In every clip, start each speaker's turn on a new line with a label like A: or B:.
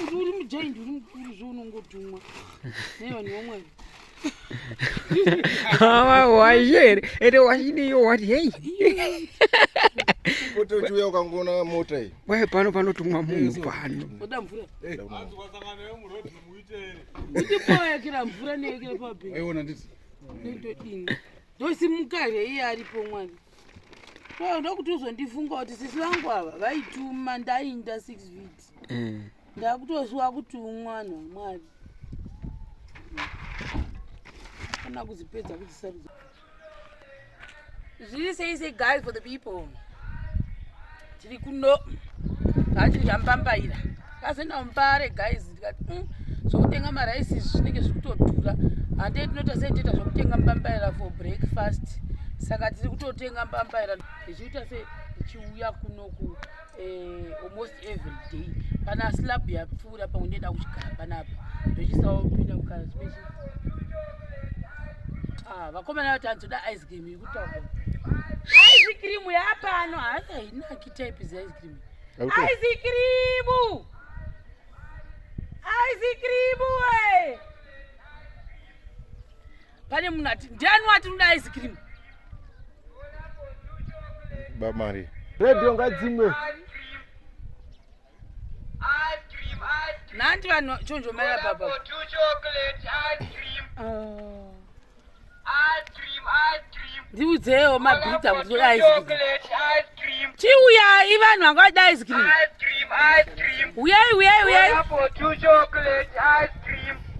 A: kuti uri mujaindi uri mukuru zve unongodhumwa nevanhu
B: vamwari washeri ende washidiyo wati hei
C: otochiuya ukangoona mota iyi waye pano panotumwa
B: munhu pano oda mvura
A: ndipowayakira mvura neyekira pabeona nditi
C: ndodini
A: ndosimuka here iye aripo mwari ndokuti uzondifunga kuti sisi vangu ava vaituma ndainda six vits mm. ndakutoziva kuti umwana wamwari kana kuzipedza kuzisarudza zviri sei sei guys for the people tiri kuno hatiri yambambaira kazoenda mumbare guys ndikati mm, zvokutenga maraisi izvi zvinenge zviri kutodhura handei tinoita sei toita zvokutenga mbambaira for breakfast saka tiri kutotenga mbambaira tichiita sei tichiuya kunoku eh, almost every day kana slab yapfuura pamwe ndoenda kuchigara panapa ndochisawo kupinda kukara spechi ah, vakomana vati anzoda ice cream yekutaura ice cream yapano haasi hainaki type ze ice cream ice cream ice cream we eh. pane munhu ati ndiani wati unoda ice cream
C: bamari redio ngadzimwe
A: nanti vanhu chonjomaira baba ndiudzewo mabhita kuti toda ice cream chiuyai vanhu vanga vada ice cream uyai uyai uyai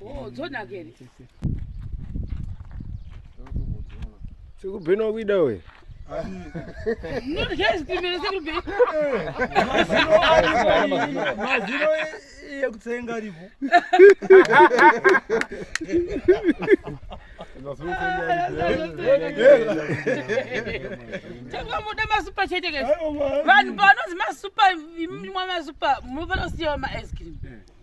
C: Oh, dzona
A: kere. Sekubhena wakuida
D: we. mazino yekutsenga aripo
A: Tangamuda masupa chete kese. Vanhu panozi masupa, imwi mwa masupa, munofanira kusiyawo ma ice cream.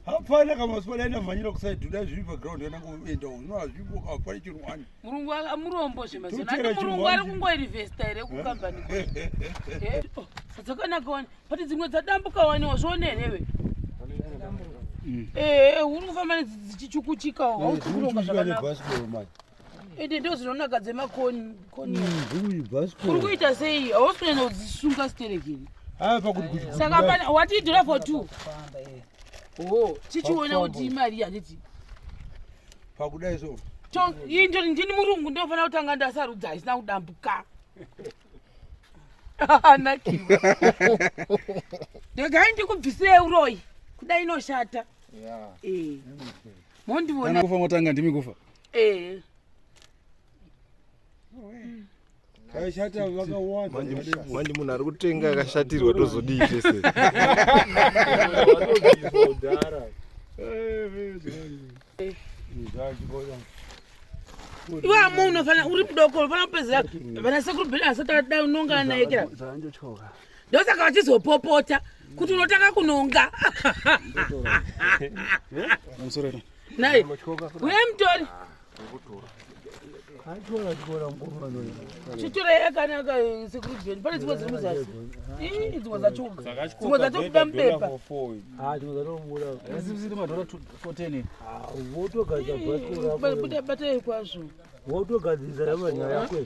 A: hapana kamaswa
D: dai ndamhanyira kusaidi dai zviri paground kana kuenda uno hazvipo hapana chero wani murungu amurombo
A: zvemazoati murungu ari kungoinvesta here kukambani dzakanaka wani but dzimwe dzadambuka waniwa zvione herewe ee uri kufamba dzichichukuchikawo hausi kuronga zvakanaka ende ndo zvinonaka dzemakonikuita mm, sei hausi kunyanya kudzisunga siterekeri saka watiidhora for two o tichiona kuti imari yanditi
D: pakudai so ii ndoti
A: ndini murungu ndinofanira kutanga ndasarudza haisina kudambuka anakiwa ndegai ndikubvisirei uroyi kudai inoshata eh. mondiona kufa motanga ndimi kufa
C: eh
D: kashata vakawanda manje munhu ari
C: kutenga akashatirwa tozodii tese
A: iwe amu unofanira uri mudoko unofanira kupedzera vana sekuru bhedha asati adai unongana naye kira zvanjotyoka ndosaka vachizopopota kuti unotanga kunonga nai uye mutori chitora yakanaka sekurudzweni pane dzimwe dziri muzasi dzimwe dzachoka dzimwe dzatobuda mubepa batai kwazvo wotogadzirisa
D: yamanyaya kwe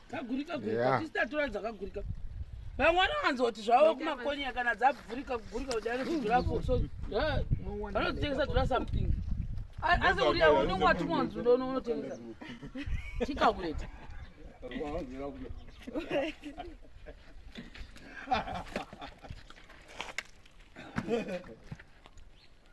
A: kagurika gurika tisi tatora dzakagurika vamwe vanowanza kuti zvavo kumakonyera kana dzabvurika kugurika kuti anozidhurapo so vanodzitengesa dhura something asi uri yavo unenge watumwa nzundo unotengesa tikakuleta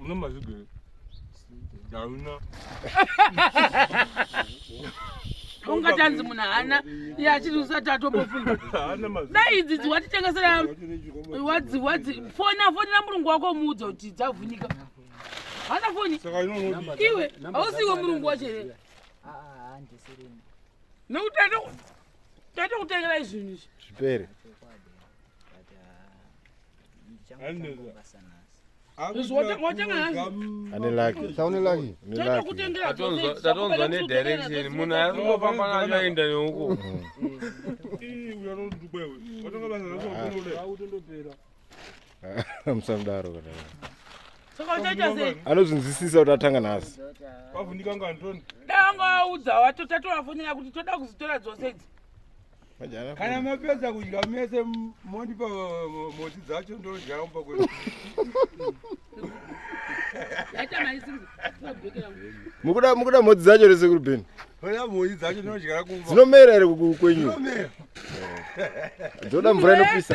D: Une mazigere hauna
A: ungatanzi munhu haana iye achiti usati atombofunga dai
D: idzi dziwatitengesera
A: wadzi wadzi fona fonera murungu wako umuudza kuti dzavhunika hana foni iwe
D: hausiwe
A: murungu wacho here nekuti taita kutengera izvinhu izvi zvipere
E: tatonzwa
A: nedirection
C: munhu aingofamba nacho aenda neuko
E: musamudaro kana
A: anozvinzwisisa kuti atanga
E: nhasi
D: dai wanga waudza
A: wato tatovafonera kuti toda kuzitora dzose idzi
D: kana mapedza kudya mese mondipa moti dzacho ndodya umba kwe
E: mukuda mukuda mhodzi dzacho rese kuri beni mhodzi dzacho
D: ndinodyara kumba dzinomera here kwenyu
E: dzoda mvura inopisa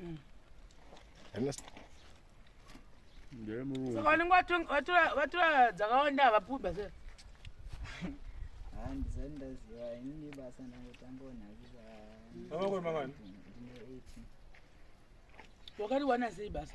D: Mm.
A: Saka vanenge vatura dzakawanda havapuba se handisati
F: ndaziva inini basa ndangotanga onhakisa
A: wakati wana sei basa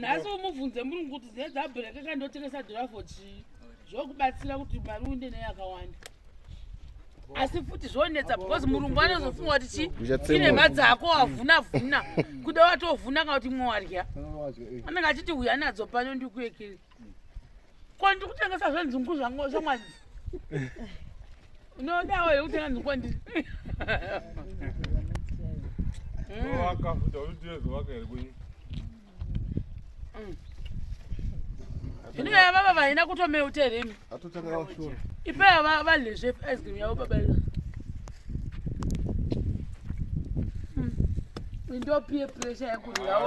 F: nhasi umubvunze murungu
A: kuti zine dzabhureka kandotengesa dhirafo chii zvokubatsira kuti mari uinde nei yakawanda asi futi zvonetsa because murungu anozofunga kuti chii ine mari dzako wavhuna vhuna kuda watovhuna kana kuti mwe wadya anenge achiti uya nadzo pano ndikuekeri ko ndiri kutengesa zvenzungu zvamwanzi unodawo here kutenga nzungu kwandiri zvino yaya baba vaina kutomeuta here imi ipeya valezve ice cream yavo baba io ndopie pressure yakuryawo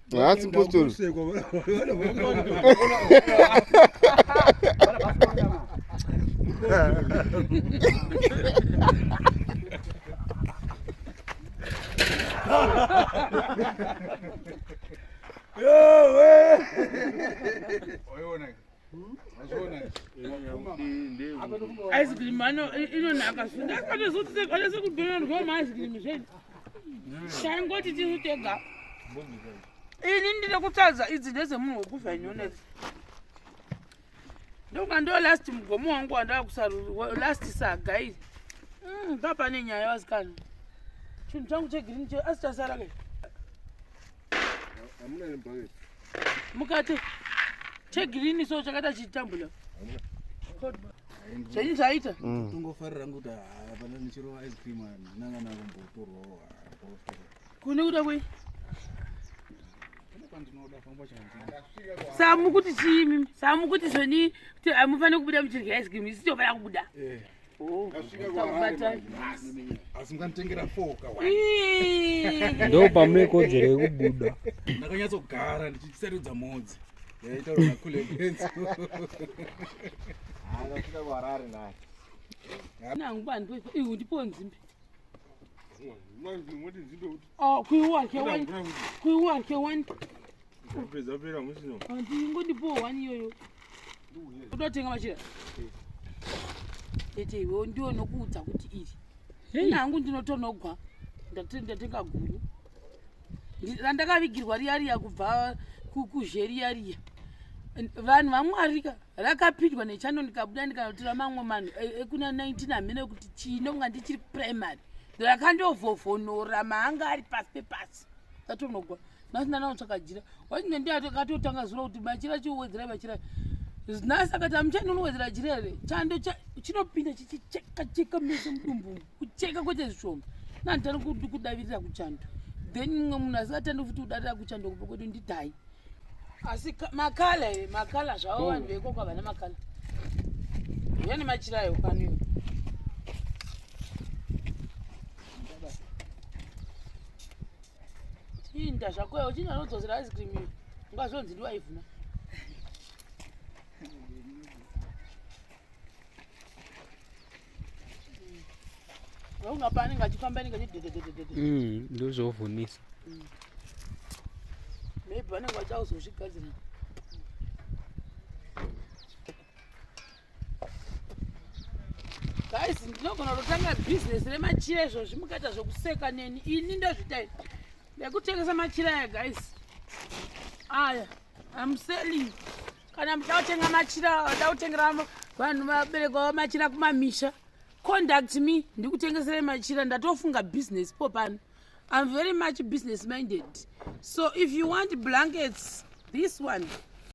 B: haasi
E: postori
A: Yo, wey! aizikirimu inonaka zvindakatozotitekaese kudonanirwa maaizikirimu zveni taingoti tisu tega ini ndine kutadza idzi ndedzemunhu wekufa inyonezi ndoka ndo last mugomo wangu wandava kusarura last saga iri mm, papane nyaya vasikana chinhu changu chegirini che asi chasara kai Hamuna nembayo. Mukati chegirini so chakaita chitambula. Hamuna. Chenyi chaita? Mm. Tungofarira kuti
D: hapana nichirova ice cream nanga nakumbotorwawo.
A: Kune kuda kwei? samukuti chii mimi samukuti zvoni kuti amufanire kubuda muchirya ice cream isitofanira kubuda eh.
D: ndo pamune kodzero
B: yekubuda ndakanyatsogara
D: ndichisarudza mhodzi yaitaura nakule benzi
A: nangu bandwe ihu ndipo nzimbe manje moti nzimbe kuti Oh, kuiwa ke one. Kuiwa ke one. Pesa pera musino. Anti ngodi po one yoyo. Kuda tenga machira. Tete iwe ndiwo nokuudza kuti iri. Hey. Nangu ndinotonogwa. Ndatenda tenga guru. Ndakavigirwa riya riya kubva kukuzheriya riya. Vanhu vamwarika rakapindwa nechando ndikabuda ndikanotora mamwe manhu e, e, ekuna 19 hamene kuti chino kunga ndichiri primary. ndakandovhovhonora maanga ari pasi pepasi atonogwa nhasi ndanaotsvaka jira wachine ndi akatotanga zuro kuti machira chiuwedzerai machira nhasi akati amuchani unowedzera jira here chando chinopinda chichichekacheka mese mudumbu kucheka kwete zvishoma nanditani kudavirira kuchando then mumwe munhu asikatandi futi kudarira kuchando kupo kwedu ndidai asi makala here makala zvavo oh. vanhu vekoko havana makala uya nemachira ayo pano iwe inda zvako iwe uchinda unodzosera ice cream iyo ungazonzi ndiwaivhuna Mm, ndozvovhunisa
B: mm.
A: maybe vanenge vachauzozvigadzira guys ndinogona kutotanga business remachira izvo zvimukaita zvekuseka neni ini ndozvitai nekutengesa machira aya guys aya am selling kana muchida kutenga machira vada kutengera vanhu vabereki vavo machira kumamisha conduct me ndikutengeserai machira ndatofunga business po pano i'm very much business minded so if you want blankets this one